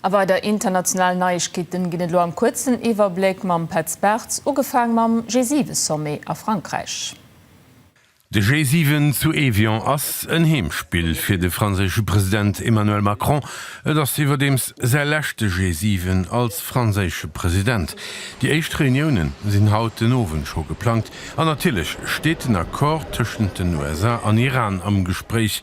A weider internationalen Neiegkeeten ginn et elo am kuerzen Iwwerbléck mam Petz Bartz, ugefaang mam G7-Sommet a Frankräich. De G7 zu Evian ass en Heemspill fir de franséische President Emmanuel Macron. Et ass iwwerdeems säi leschte G7 als franséische President. Déi éischt Reunioune sinn haut den Owend scho geplangt. An natierlech steet den Accord tëschent den USA an Iran am Gespréich.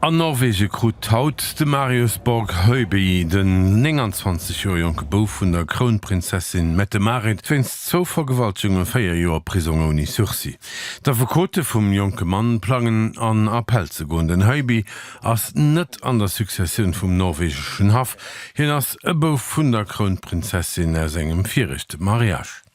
An Norwege krut haut de Marius Borg Hoeby, den 29 Joer jonke Bouf vun der Krounprinzessin Mette-Marit, wéinst zwou Vergewaltegunge véier Joer Prisong ouni Sursis. D'Affekote vum jonke Mann plangen an Appell ze goen. Den Hoeby ass net an der Successioun vum norwegeschen Haff, hien ass e Bouf vun der Krounprinzessin aus engem viregte Mariage.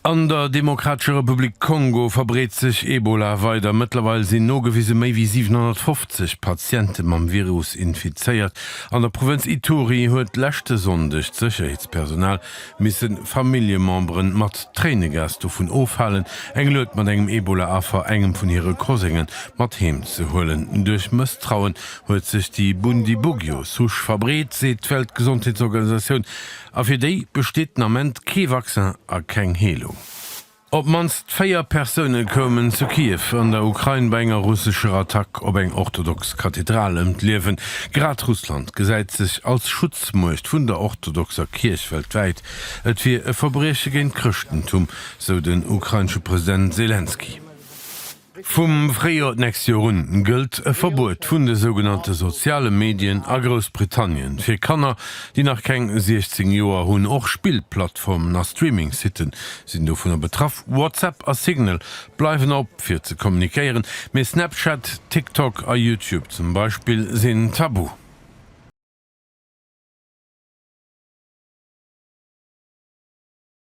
An der Demokratescher Republik Kongo verbreet sech Ebola weider. Mëttlerweil sinn nogewise méi wéi 750 Patiente mam Virus infizéiert. An der Provënz Ituri huet leschte Sonndeg d'Sécherheetspersonal misse Familljemembere mat Tréinegas dovun ofhalen, eng Lued mat engem Ebola-Affer, engem vun hire Kosenge, mat heem ze huelen. Duerch Mësstrauen huet sech déi Bundibugyo-Souche verbreet, seet d'Weltgesondheetsorganisatioun. A fir déi besteet den Ament kee Vaccin a keng Heelung. Op d'mannst véier Persoune koumen zu Kiew an der Ukrain bei enger russescher Attack op eng orthodox Kathedral ëm d'Liewen. Grad Russland gesäit sech als Schutzmuecht vun der orthodoxer Kierch weltwäit. Et wier e Verbrieche géint d'Chrëschtentum, sou den ukrainesche President Selenskyj. Vum Fréijoer d'nächst Joer un gëllt e Verbuet vun de sougenannte soziale Medien a Groussbritannien. Fir Kanner, déi nach keng 16 Joer hunn. Och Spillplattformen a Streamingsitte sinn dovunner betraff. WhatsApp a Signal bleiwen op, fir ze kommunikéieren, mee Snapchat, TikTok a YouTube zum Beispill sinn tabu.